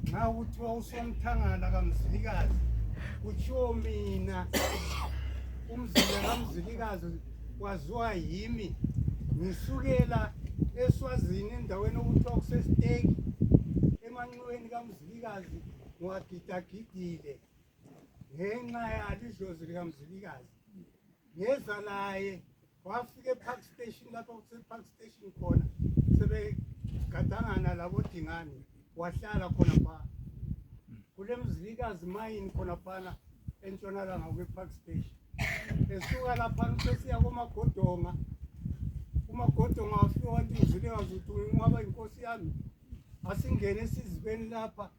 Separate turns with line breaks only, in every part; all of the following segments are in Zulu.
nxa kuthiwa usomthangala kamzilikazi kutshiwo mina umzila kamzilikazi kwaziwa yimi ngisukela eswazini endaweni okuthiwa kusesiteki emanxiweni kamzilikazi ngiwagidagidile ngenxa yalo idlozi likamzilikazi ngeza laye wafika epark station lapha kusepark station khona sebegadangana labo dingane wahlala khona phaa kule mzilikazi mayini khona phana entshonalanga kwepark station esuka laphana usesiya komagodonga umagodonga wafika wathi uzilikazi uthi ungaba inkosi yami asingene esizibeni lapha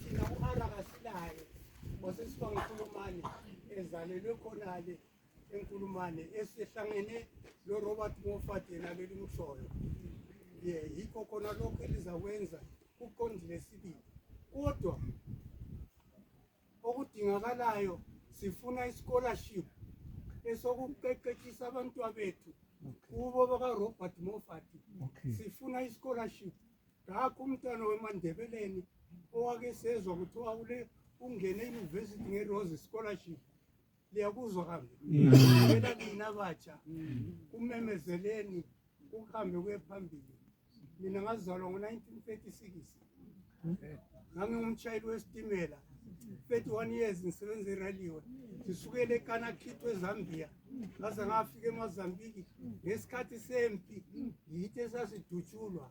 thina u-ara kasilaye wasesiba ngikhulumane ezalelwe khonale enkulumane esihlangene lo Robert Moffat yena belimshoyo ye yikho khona lokho elizakwenza kuqondile sibili kodwa okudingakalayo sifuna ischolarship esokuqeqeshisa abantwa bethu kubo baka Robert Moffat sifuna ischolarship ngakho umntwana wemandebeleni owake sezwa kuthiwa ule ungene euniversity ngerose scholarship liyakuzwa kambe ela mm. kina batsha kumemezeleni kuhambe kuye phambili mina ngazalwa ngo-1936 ngangingumshayeli wesitimela 31 years ngisebenza iraliwe ngisukele ekanakhitho ezambia ngaze ngafika emazambiki ngesikhathi sempi yithi esasidutshulwa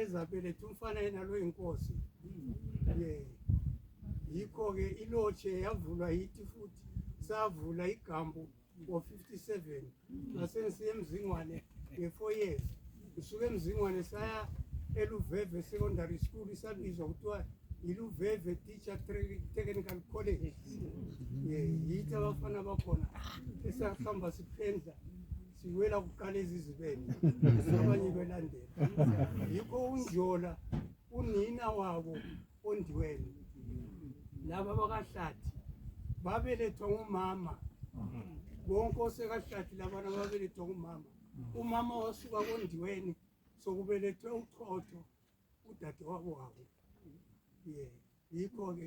ezabeletha umfana yena lo inkosi ye yikho-ke ilotshe yavulwa yithi futhi savula igambu ngo-57 ngasengisiya emzingwane nge-four years ngisuke emzingwane saya eluveve secondary school isabizwa kuthiwa yiluveve teacher technical college ye yithi abafana bakhona esahamba siphendla siwela kuqala ezizibeni abanye belandela yikho unjola unina wabo ondiweni laba bakahlathi babelethwa ngumama bonke osekahlathi labana babelethwa ngumama umama wasuka kondiweni sokubelethwe uchotho udade wabo wabo ye yikho-ke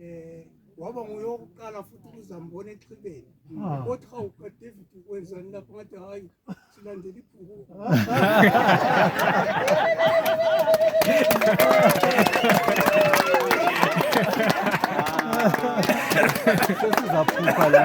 eh waba nguye wokuqala futhi ukuzambona exhibeni ah. othi hawu kadavid kwenzani lapho ngathi hhayi silandela ibhuku
sesizaphupha la